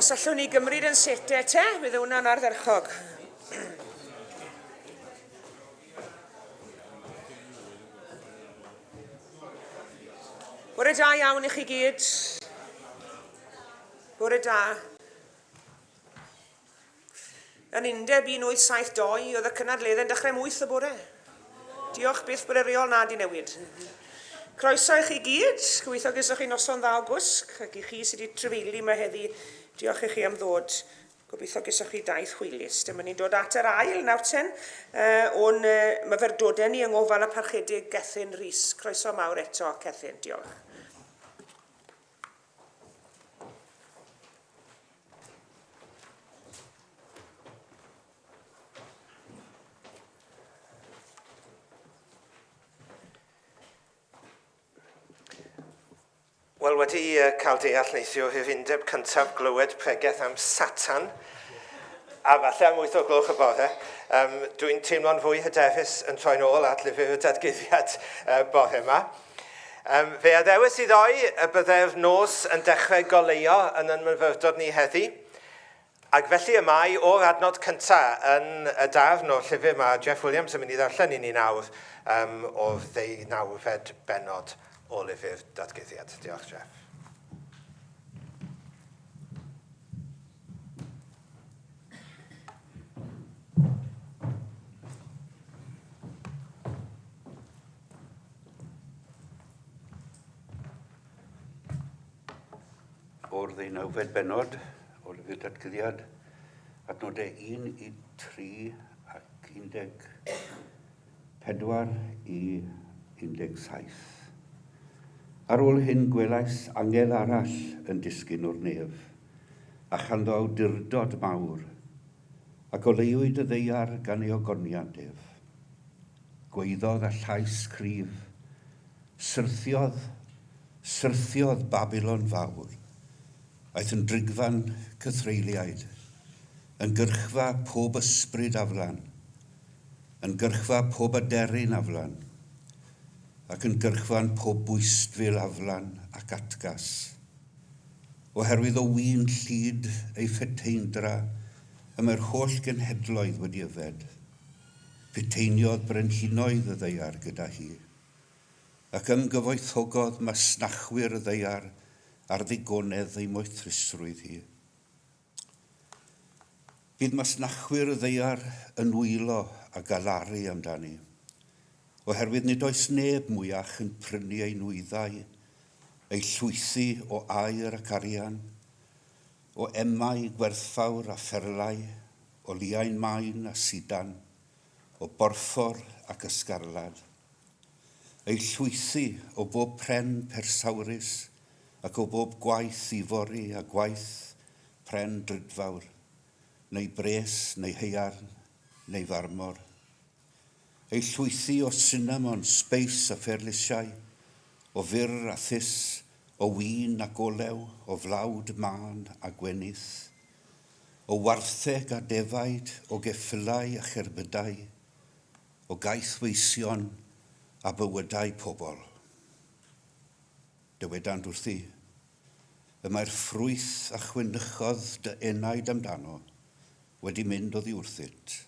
Os allwn ni gymryd yn sete te, bydd hwnna'n ardderchog. Bore da iawn i chi gyd. Bore da. Yn undeb 1872 oedd y cynadledde'n dechrau am wyth y bore. Diolch byth bod y reol na 'di newid. Croeso i chi gyd, gobeithio gesoch chi noson dda o gwsg, ac i chi sydd wedi trefeili yma heddi, diolch i chi am ddod. Gobeithio gesoch chi daith hwylus. Dyma ni'n dod at yr ail nawrten uh, o'n uh, myfyrdodau ni yng ngofal y parchedig Gethin Rhys. Croeso mawr eto, Cethyn, diolch. Wel, wedi uh, cael deall neithio hyfundeb cyntaf glywed pregeth am Satan, a falle am wyth o gloch y bore, um, dwi'n teimlo'n fwy hyderus yn troi'n ôl at lyfr y dadguddiad uh, bore yma. Um, fe addewis i ddoi y byddai'r nos yn dechrau goleuo yn yn myfyrdod ni heddi, ac felly y mae o'r adnod cyntaf yn y darn o'r llyfr mae Jeff Williams yn mynd i ddarllen i ni nawr um, o'r ddeunawfed benod o lyfr Datguddiad. Diolch, Jeff. o'r ddeunawfed benod o lyfr datgyddiad, adnodau 1 i 3 ac 14 i 17. Ar ôl hyn gwelais angel arall yn disgyn o'r nef, a chanddo awdurdod mawr, ac oleuwyd y ddeiar gan ei ogoniant ef. Gwaeddodd â llais cryf. Syrthiodd, syrthiodd Babilon Fawr. Aeth yn drigfan cythreuliaid, yn gyrchfa pob ysbryd aflan, yn gyrchfa pob aderyn aflan, ac yn gyrchfan pob bwystfil aflan ac atgas. Oherwydd o win llid ei feteindra y mae'r holl genhedloedd wedi yfed. Cyteiniodd brenhinoedd y ddaear gyda hi, ac ymgyfoethogodd masnachwyr y ddaear ar ddigonedd ei moethrusrwydd hi. Bydd masnachwyr y ddaear yn wylo a galaru amdani, oherwydd nid oes neb mwyach yn prynu ei nwyddau, ei llwythi o aer ac arian, O emau gwerthfawr a pherlau, o liain main a sidan, o borffor ac ysgarlad. Ei llwythi o bob pren persawrus ac o bob gwaith ifori a gwaith pren drudfawr, neu bres, neu haearn, neu farmor. Ei llwythi o sinamon, sbeis a pherlysiau, o fyrr a thus, o win ac olew, o flawd mân a gwenith, o wartheg a defaid, o geffylau a cherbydau, o gaethweision a bywydau pobl. Dywedant wrthi, Y mae'r ffrwyth a chwynychodd dy enaid amdano wedi mynd oddi wrthyt,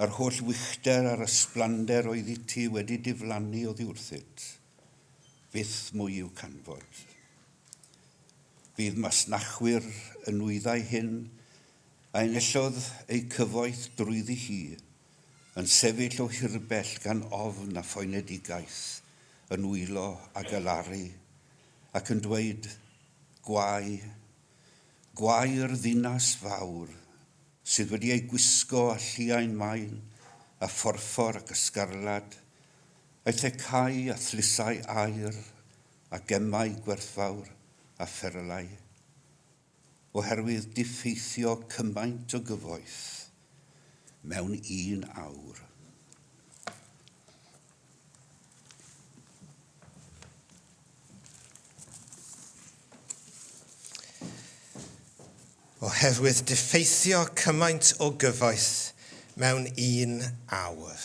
Yr holl wychder a'r ysblander oeddi ti wedi diflannu oddi wrthyt. Fyth mwy i'w canfod. Fydd masnachwyr y nwyddau hyn, a enillodd eu cyfoeth drwyddi hi, yn sefyll o hirbell gan ofn a phoenedigaeth, yn wylo a galaru, ac yn dweud, Gwae! Gwae i'r ddinas fawr! sydd wedi eu gwisgo â lliain main a phorffor ac ysgarlad, a'u thecau a thlysau aur a gemau gwerthfawr a pherlau. Oherwydd diffeithio cymaint o gyfoeth mewn un awr. Oherwydd diffeithio cymaint o gyfoeth mewn un awr.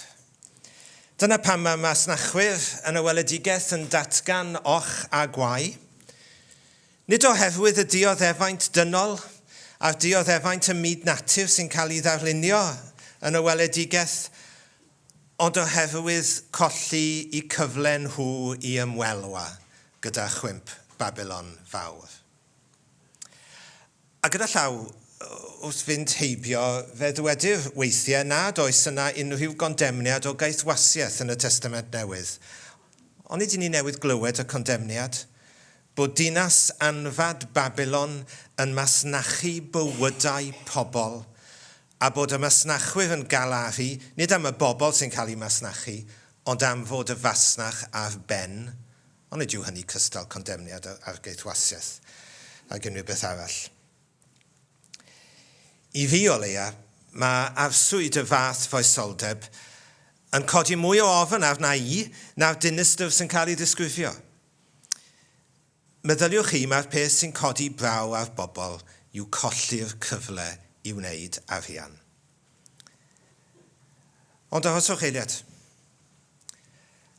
Dyna pam mae masnachwyr yn y weledigaeth yn datgan och a gwau. Nid oherwydd y dioddefaint dynol a'r dioddefaint ym myd natur sy'n cael ei ddarlunio yn y weledigaeth Ond oherwydd colli y cyfle nhw i ymwelwa gyda chwymp Babilon Fawr. A gyda llaw wrth fynd heibio, fe ddywedir weithiau nad oes yna unrhyw gondemniad o gaethwasiaeth yn y Testament Newydd. Onid ydyn ni newydd glywed y condemniad? Bod dinas anfad Babilon yn masnachu bywydau pobl, a bod y masnachwyr yn galaru nid am y bobl sy'n cael eu masnachu, ond am fod y fasnach ar ben, ond nid yw hynny cystal condemniad yr argaethwasiaeth ag unrhyw beth arall. I fi, o leia, mae arswyd y fath foesoldeb yn codi mwy o ofn arna i na'r dinistr sy'n cael ei ddisgrifio. Meddyliwch chi mai'r peth sy'n codi braw ar bobl yw colli'r cyfle i wneud arian. Ond arhoswch eiliad.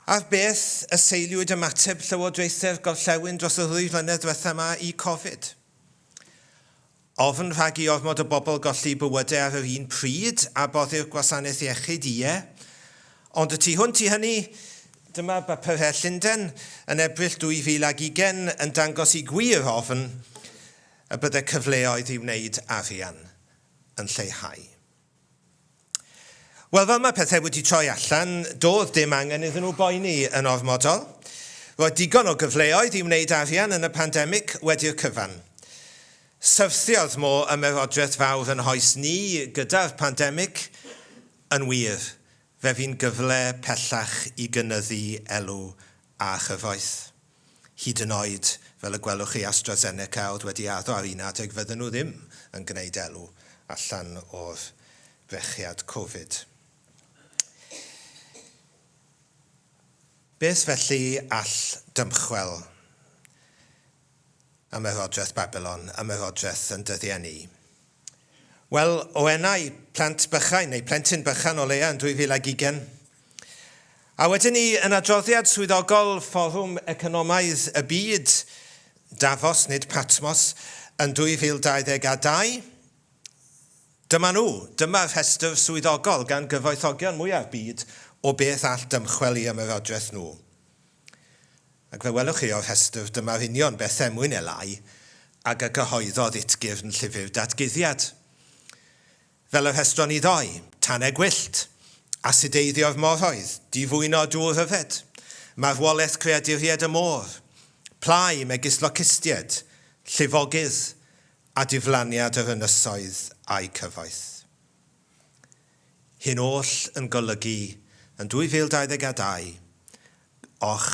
Ar beth y seiliwyd ymateb Llywodraethau'r Gorllewin dros y ddwy flynedd diwethaf 'ma i Covid? Ofn rhag i ormod o bobl golli bywydau ar yr un pryd a boddi'r gwasanaeth iechyd, ie. Ond y tu hwnt i hynny, dyma bapurau Llundain yn Ebrill 2020 yn dangos i gwir ofn y byddai cyfleoedd i wneud arian yn lleihau. Wel, fel mae pethau wedi troi allan, doedd dim angen iddyn nhw boeni yn ormodol. Roedd digon o gyfleoedd i wneud arian yn y pandemig wedi'r cyfan. Syrthiodd Mo Ymerodraeth Fawr yn hoes ni gyda'r pandemig? Yn wir, fe fu'n gyfle pellach i gynyddu elw a chyfoeth. Hyd yn oed, fel y gwelwch chi, AstraZeneca oedd wedi addo ar un adeg fydden nhw ddim yn gwneud elw allan o'r brechiad Covid. Beth felly all dymchwel Ymerodraeth Babilon, Ymerodraeth yn dyddiau ni? Wel, o enau plant bychain, neu plentyn bychan o leia yn 2020. A wedyn ni, yn adroddiad swyddogol Fforwm Economaidd y Byd, Davos, nid Patmos, yn 2022, dyma nhw, dyma rhestr swyddogol gan gyfoethogion mwyaf byd o beth all dymchwel i ymerodraeth nhw. Ac fe welwch chi o'r rhestr, dyma'r union beth er mwyn eleu ag y cyhoeddodd Utgyrn Llyfr Datguddiad. Fel y rhestron ni ddoi, tanau gwyllt, asideiddio'r moroedd, difwyno dŵr yfed, marwolaeth creaduried y môr, plâu megis locustiaid, llifogydd, a diflaniad yr ynysoedd a'u cyfoeth. Hyn oll yn golygu yn 2022 och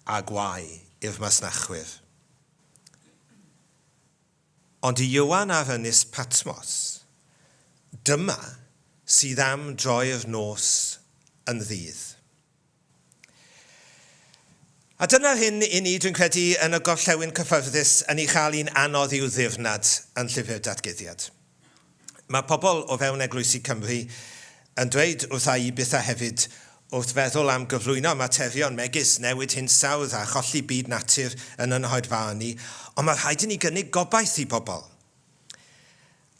a gwae i'r masnachwyr. Ond i Ieuan ar Ynys Patmos, dyma sydd am droi'r nos yn ddydd. A dyna'r hyn i ni, dwi'n credu, yn y gorllewin cyffyrddus, yn ei chael hi'n anodd i'w ddirnad yn Llyfr Datguddiad. Mae pobl o fewn eglwysi Cymru yn dweud wrtha i bethau hefyd wrth feddwl am gyflwyno materion megis newid hinsawdd a cholli byd natur yn y Nhoed Fawr ni, ond mae rhaid i ni gynnig gobaith i bobl.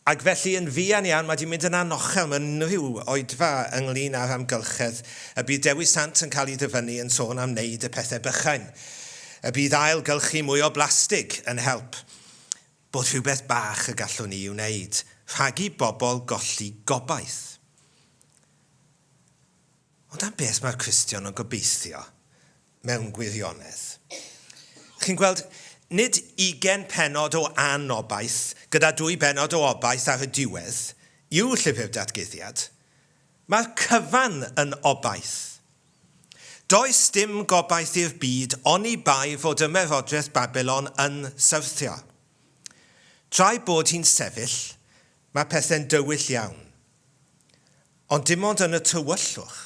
Ac felly, yn fuan iawn, mae 'di mynd yn anochel mewn unrhyw oedfa ynglŷn â'r amgylchedd. Y bydd Dewi Sant yn cael ei ddyfynnu yn sôn am wneud y pethau bychain. Y bydd ail-gylchu mwy o blastig yn help. Bod rhywbeth bach y gallwn ni ei wneud, rhag i bobl golli gobaith. Ond am beth mae'r Cristion yn gobeithio mewn gwirionedd? Chi'n gweld, nid ugain pennod o anobaith gyda dwy bennod o obaith ar y diwedd yw Llyfr Datguddiad. Mae'r cyfan yn obaith. Does dim gobaith i'r byd oni bai fod Ymerodraeth Babilon yn syrthio. Tra'i bod hi'n sefyll, mae pethau'n dywyll iawn. Ond dim ond yn y tywyllwch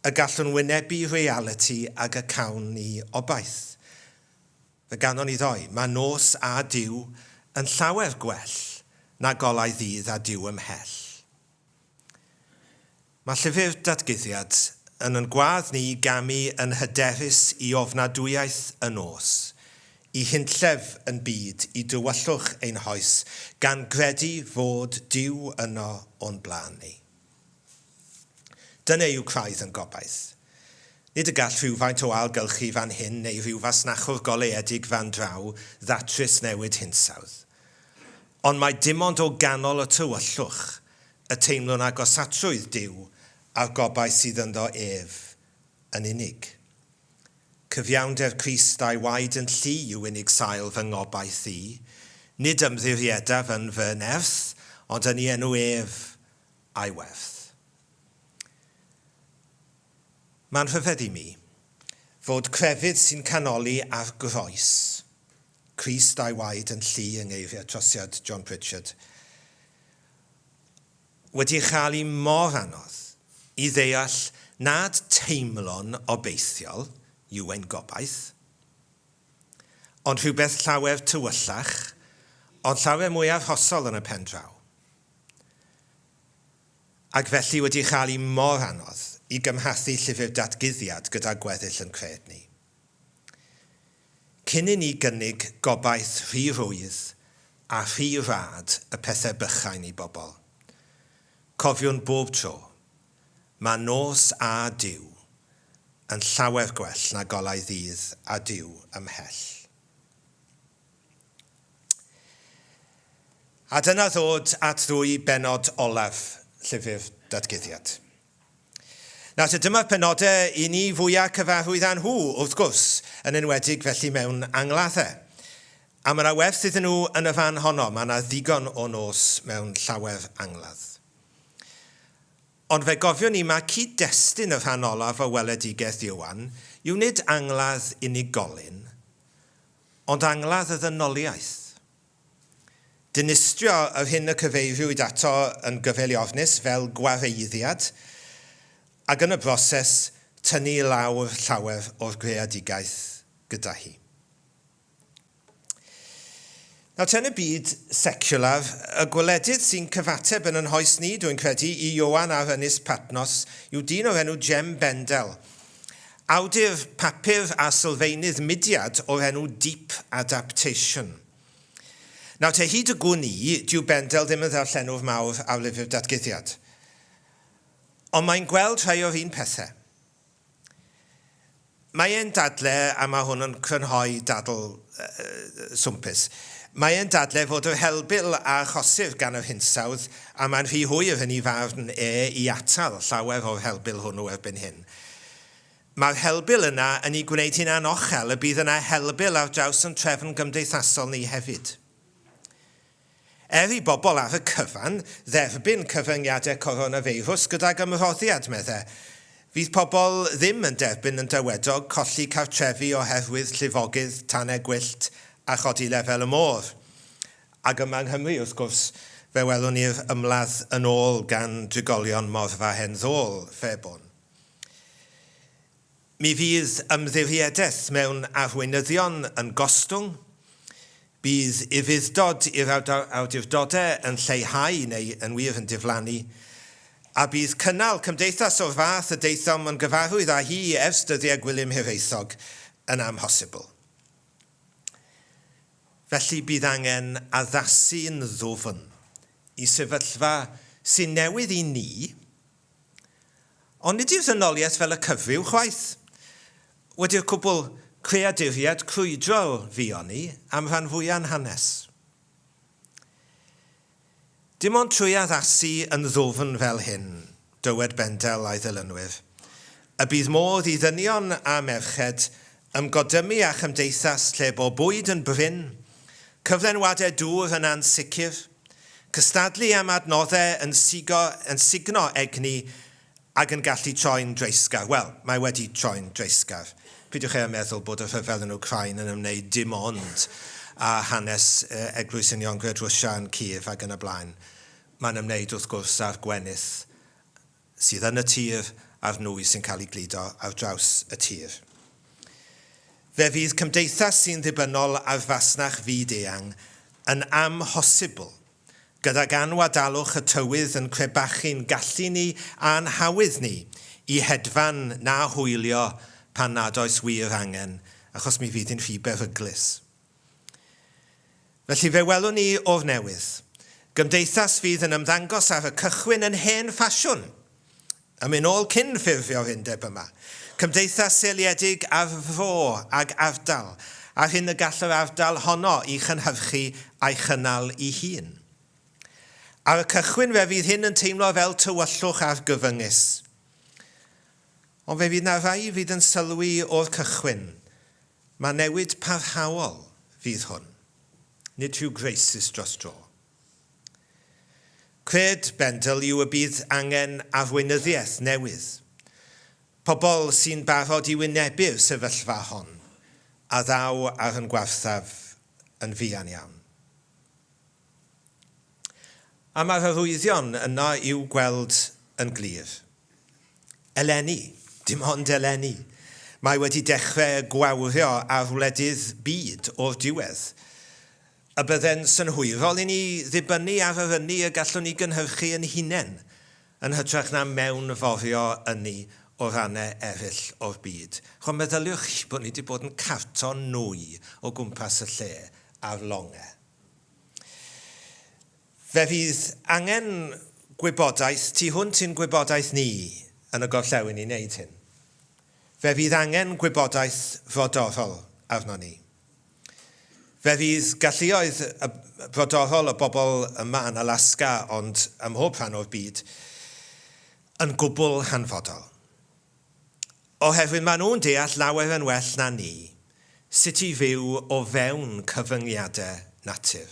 y gallwn wynebu realiti ag y cawn ni obaith. Fe ganon ni ddoe. Mae nos a Duw yn llawer gwell na golau ddydd a Duw ymhell. Mae llyfr Datguddiad yn yn gwadd ni i gamu yn hyderus i ofnadwyaeth y nos, Y hunllef yn byd i dywyllwch ein hoes, gan gredu fod Duw yno o'n blaen ni. Dyna yw craidd yn gobaith. Nid y gall rhywfaint o ailgylchu fan hyn neu ryw fasnachwr goleuedig fan draw ddatrys newid hinsawdd. Ond mae dimond o ganol y tywyllwch y teimlwn agosatrwydd Duw a'r gobaith sydd ynddo ef yn unig. Cyfiawnder Crist a'i waed yn llu yw unig sail fy ngobaith i. Nid ymddiriedaf yn fy nerth, ond yn i enw ef a'i werth. Mae'n rhyfedd i mi fod crefydd sy'n canoli ar groes Crist a'i waed yn llu yng ngeiriau trosiad John Pritchard. wedi cael hi mor anodd i ddeall nad teimlo'n obeithiol yw ein gobaith, ond rhywbeth llawer tywyllach, ond llawer mwy arhosol yn y pen draw, ac felly wedi cael hi mor anodd i gymhathu llyfr Datguddiad gyda gweddill yn cred ni. Cyn i ni gynnig gobaith rhy rhwydd a rhy rad y pethau bychain i bobl. Cofiwn bob tro, mae nos a Duw yn llawer gwell na golau ddydd a Duw ymhell. A dyna ddod at ddwy bennod olaf Llyfr Datguddiad. Nawr te, dyma'r penodau i ni fwya' cyfarwydd â nhw, wrth gwrs, yn enwedig felly mewn angladdau. A mae 'na werth iddyn nhw yn y fan honno, mae 'na ddigon o nos mewn llawer angladd. Ond fe gofiwn ni mae cyd-destun y rhan olaf o weledigaeth Ioan yw nid angladd unigolyn, ond angladd y ddynoliaeth. Dinistrio yr hyn y cyfeiriwyd ato yn gyfeil i ofnus fel gwareiddiad, ac yn y broses tynnu i lawr llawer o'r greadigaeth gyda hi. Nawr te yn y byd seciwlar, y gwledydd sy'n cyfateb yn yn hoes ni, dw i'n credu, i Ioan a'r Ynys Patnos yw dyn o'r enw Jem Bendel, Awdur papur a sylfaenydd mudiad o'r enw Deep Adaptation. Nawr te, hyd y gwn i, dyw Bendel ddim yn ddarllenwr mawr ar lyfr Datguddiad. Ond mae'n gweld rhai o'r un pethe. Mae e'n dadle, a mae hwn yn crynhoi dadl swmpus, mae e'n dadle fod yr helbul a achosir gan yr hinsawdd, a mae'n rhy hwyr yn ei farn e i atal llawer o'r helbul hwnnw erbyn hyn. Mae'r helbul yna yn ei gwneud hi'n anochel y bydd yna helbul ar draws yn trefn gymdeithasol ni hefyd. Er i bobl ar y cyfan dderbyn cyfyngiadau coronafeirws gydag ymroddiad, medde, fydd pobl ddim yn derbyn yn dywedog colli cartrefi oherwydd llifogydd, tanau gwyllt a chodi lefel y môr. Ac yma yng Nghymru, wrth gwrs, fe welwn ni'r ymladd yn ôl gan drigolion morfa hen ddôl Fairbourne. Mi fydd ymddiriedaeth mewn arweinyddion yn gostwng, bydd ufudd-dod i'r awdurdodau yn lleihau neu yn wir yn diflannu, a bydd cynnal cymdeithas o'r fath y daethom yn gyfarwydd â hi ers dyddiau Gwilym Hiraethog yn amhosibl. Felly bydd angen addasu'n ddwfn i sefyllfa sy'n newydd i ni, ond nid yw ddynoliaeth fel y cyfryw chwaith wedi'r cwbl, creaduriad crwydrol fuon ni am rhan fwya'n hanes. Dim ond trwy addasu yn ddwfn fel hyn, dywed Bendel a'i ddilynwyr, y bydd modd i ddynion a merched ymgodymu â chymdeithas lle bo bwyd yn brin, cyflenwadau dŵr yn ansicr, cystadlu am adnoddau yn sugno egni Ac yn gallu troi'n dreisgar. Wel, mae wedi troi'n dreisgar. Peidiwch â meddwl bod y rhyfel yn Wcráin yn ymwneud dim ond â hanes Eglwys Uniongred Rwsia yn Kyiv ac yn y blaen. Mae'n ymwneud, wrth gwrs, â'r gwenith sydd yn y tir a'r nwy sy'n cael ei gludo ar draws y tir. Fe fydd cymdeithas sy'n ddibynnol ar fasnach fyd-eang yn amhosibl Gydag anwadalwch y tywydd yn crebachu'n gallu ni a'n hawydd ni i hedfan na hwylio pan nad oes wir angen, achos mi fydd hi'n rhy beryglus. Felly fe welwn ni o'r newydd, gymdeithas fydd yn ymddangos ar y cychwyn yn hen ffasiwn, Yn mynd nôl cyn ffurfio'r undeb yma, cymdeithas seiliedig ar fro ag ardal, a'r hyn y gall yr ardal honno i chynhyrchu a'i chynnal i hun. Ar y cychwyn fe fydd hyn yn teimlo fel tywyllwch argyfyngus. Ond fe fydd na rai fydd yn sylwi o'r cychwyn, ma newid parhaol fydd hwn, nid rhyw graesus dros dro. Cred Bendel yw y bydd angen arweinyddiaeth newydd, pobl sy'n barod i wynebu'r sefyllfa hon a ddaw ar yn gwaethaf yn fuan iawn. A mae'r arwyddion yno i'w gweld yn glir. Eleni, dim ond eleni, mae wedi dechrau gwawrio ar wledydd byd o'r diwedd. A bydde'n synhwyrol i ni ddibynnu ar yr ynni y gallwn ni gynhyrchu yn hunain, yn hytrach na mewnforio ynni o rannau eraill o'r byd. Rwan, meddyliwch chi bod ni wedi bod yn carto nwy o gwmpas y lle ar longe. Fe fydd angen gwybodaeth tu hwnt i'n gwybodaeth ni yn y gorllewin i wneud hyn. Fe fydd angen gwybodaeth frodorol arnon ni. Fe fydd galluoedd brodorol y bobl yma yn Alaska, ond ym mhob rhan o'r byd, yn gwbl hanfodol. Oherwydd maen nhw'n deall lawer yn well na ni sut i fyw o fewn cyfyngiadau natur.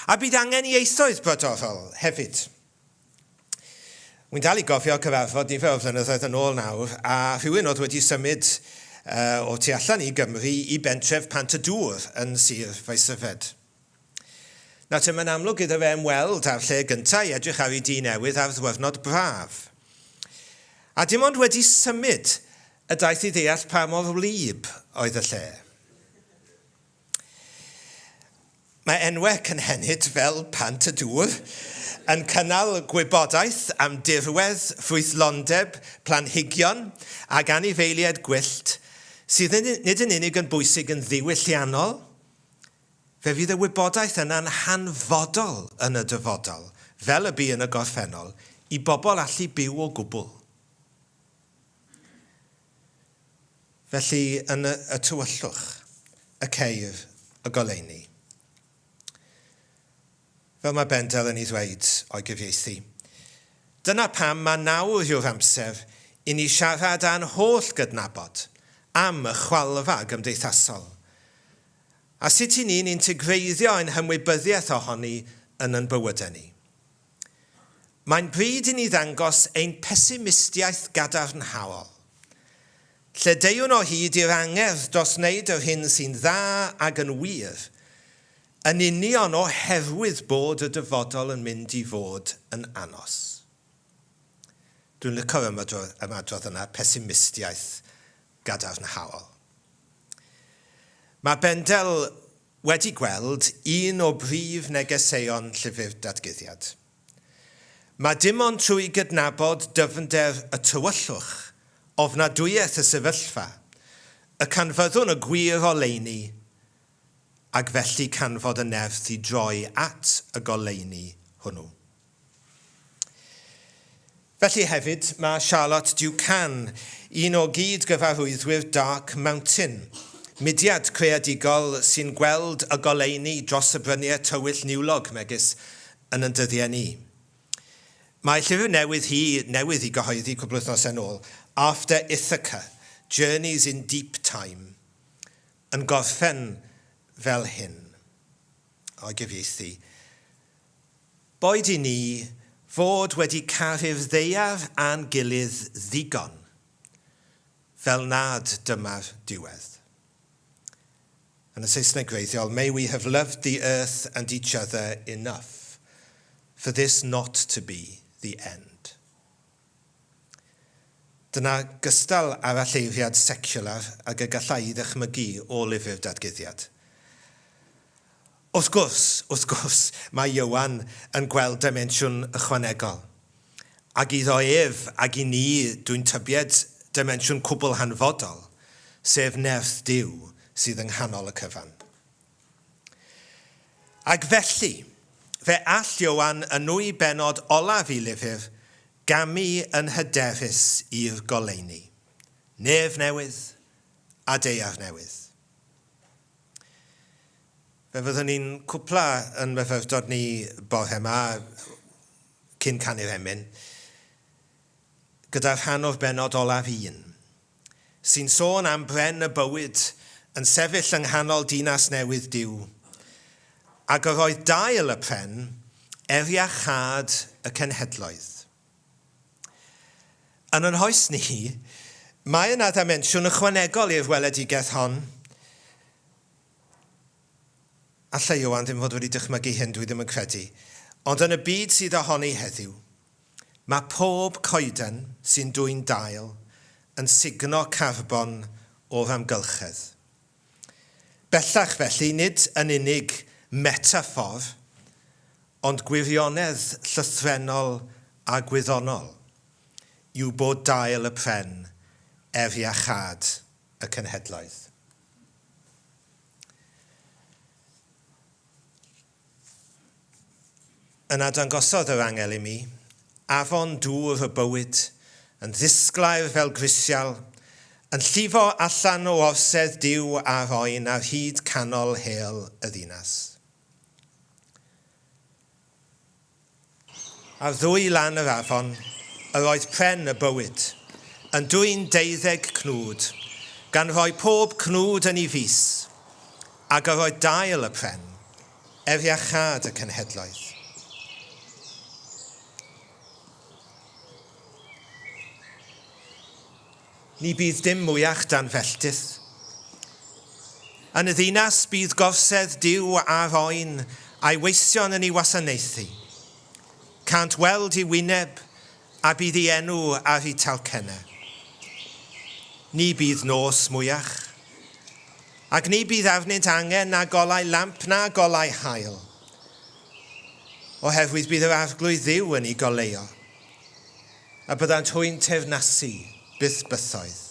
A bydd angen ieithoedd brodorol hefyd. Wi'n dal i gofio cyfarfod nifer o flynyddoedd yn ôl nawr, a rhywun oedd wedi symud uh, o tu allan i Gymru i bentref Pant y Dŵr yn Sir Faesyfed. Nawr te, mae'n amlwg iddo fe ymweld â'r lle gyntaf i edrych ar ei dŷ newydd ar ddwyrnod braf. A dim ond wedi symud y daeth i ddeall pa mor wlyb oedd y lle. Mae enwau cynhenid fel Pant y Dŵr yn cynnal gwybodaeth am dirwedd, ffrwythlondeb, planhigion ac anifeiliaid gwyllt sydd nid yn unig yn bwysig yn ddiwylliannol, fe fydd y wybodaeth yna'n hanfodol yn y dyfodol, fel y bu yn y gorffennol, i bobl allu byw o gwbl. Felly yn y tywyllwch, y ceir y goleuni. Fel mae Bendel yn ei ddweud o'i gyfieithu. Dyna pam mae nawr yw'r amser i ni siarad â'n holl gydnabod am y chwalfa gymdeithasol, a sut i ni'n integreiddio ein hymwybyddiaeth ohoni yn yn bywydau ni. Mae'n bryd i ni ddangos ein pesimistiaeth gadarnhaol. Lle deuwn o hyd i'r angerdd dros wneud yr hyn sy'n dda ag yn wir, yn union oherwydd bod y dyfodol yn mynd i fod yn anos. Dwi'n licio'r ymadrodd yna, pesimistiaeth gadarnhaol. Mae Bendel wedi gweld un o brif negeseuon Llyfr Datguddiad. Mae dim ond trwy gydnabod dyfnder y tywyllwch, ofnadwyaeth y sefyllfa, y canfyddwn y gwir oleuni, ac felly canfod y nerth i droi at y goleuni hwnnw. Felly hefyd mae Charlotte Ducan, un o gyd-gyfarwyddwyr Dark Mountain, mudiad creadigol sy'n gweld y goleuni dros y bryniau tywyll niwlog megis yn ein dyddiau ni. Mae llyfr newydd hi newydd i gyhoeddi cwpl wythnos yn ôl, After Ithaca, Journeys in Deep Time, yn gorffen fel hyn, o'i gyfieithu. Boed i ni fod wedi caru'r ddaear a'n gilydd ddigon, fel nad dyma'r diwedd. Yn y Saesneg gwreiddiol, May we have loved the earth and each other enough for this not to be the end. Dyna gystal aralleiriad seciwlar ag y galla i ddychmygu o lyfr Dadguddiad. Wrth gwrs, wrth gwrs, mae Ioan yn gweld dimensiwn ychwanegol. Ac iddo ef, ac i ni, dwi'n tybied, dimensiwn cwbl hanfodol, sef nerth Duw sydd yng nghanol y cyfan. Ac felly, fe all Ioan y nwy bennod olaf i lyfr gamu yn hyderus i'r goleuni, Nef newydd a deuar newydd. Fe fyddwn ni'n cwpla yn myfyrdod ni bore yma, cyn canu'r emyn, gyda'r rhan o'r bennod olaf un. sy'n sôn am bren y bywyd yn sefyll yng nghanol dinas newydd Duw, ag yr oedd dail y pren er iachâd y cenhedloedd. Yn ein hoes ni, mae yna ddimensiwn ychwanegol i'r weledigaeth hon. Alla Ioan ddim fod wedi dychmygu hyn, dwi ddim yn credu, ond yn y byd sydd ohoni heddiw, Mae pob coeden sy'n dwyn dail yn sugno carbon o'r amgylchedd. Bellach felly, nid yn unig metaffor, ond gwirionedd llythrennol a gwyddonol yw bod dail y pren er iachâd y cenhedloedd. Yna dangosodd yr angel i mi afon dŵr y bywyd, yn ddisglair fel grisial, yn llifo allan o orsedd Duw a'r oen ar hyd canol hel y ddinas. Ar ddwy lan yr afon yr oedd pren y bywyd, yn dwyn deuddeg cnwd, gan roi pob cnwd yn ei fis, ag yr oedd dail y pren, er iachâd y cenhedloedd. Ni bydd dim mwyach dan felltith. Yn y ddinas bydd gorsedd Duw a'r oen a'i weision yn ei wasanaethu. Cânt weld ei wyneb, a bydd ei enw ar eu talcennau. Ni bydd nos mwyach. Ac ni bydd arnynt angen na golau lamp na golau haul, oherwydd bydd yr Arglwydd Dduw yn eu goleuo. A byddant hwy'n teyrnasu, byth bythoedd.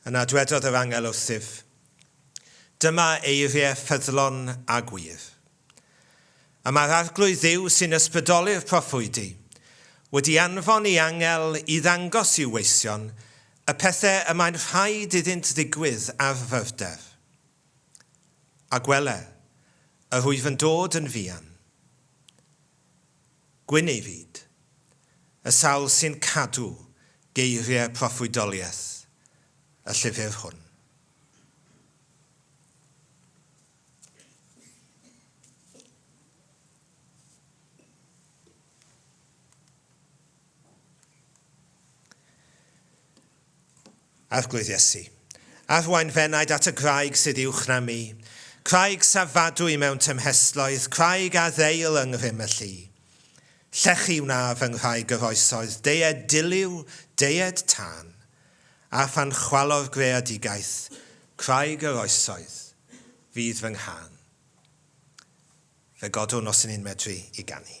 Yna dwedodd yr angel wrthyf, Dyma eiriau ffyddlon a gwir. A mae'r Arglwydd Dduw sy'n ysbrydoli'r proffwydi wedi anfon ei angel i ddangos i'w weision y pethau y mae'n rhaid iddynt ddigwydd ar fyrder. A gwele, yr wyf yn dod yn fuan. Gwyn ei fyd. Y sawl sy'n cadw geiriau proffwydoliaeth y llyfr hwn. Arglwydd Iesu, arwain f'enaid at y graig sydd uwch na mi, craig safadwy mewn tymhestloedd, craig a ddeil yng ngrym y llu. Llechi wna fy nghraig yr oesoedd, deied diliw, deied tân. A phan chwalo'r greadigaeth craig yr oesoedd, fydd fy nghân. Fe godwn os 'yn ni'n medru i ganu.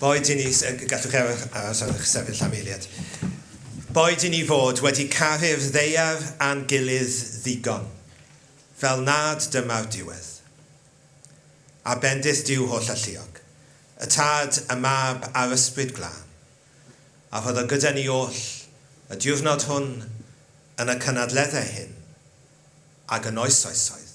Boed i ni, gallwch eich aros ar eich sefyll am eiliad. Boed i ni fod wedi caru'r ddeiar a'n gilydd ddigon, fel nad dyma'r diwedd. A bendith Duw holl alluog, y Tad, y Mab, a'r Ysbryd Glân, a rhodd o gyda ni oll, y diwrnod hwn, yn y cynadleddau hyn, ag yn oes oesoedd.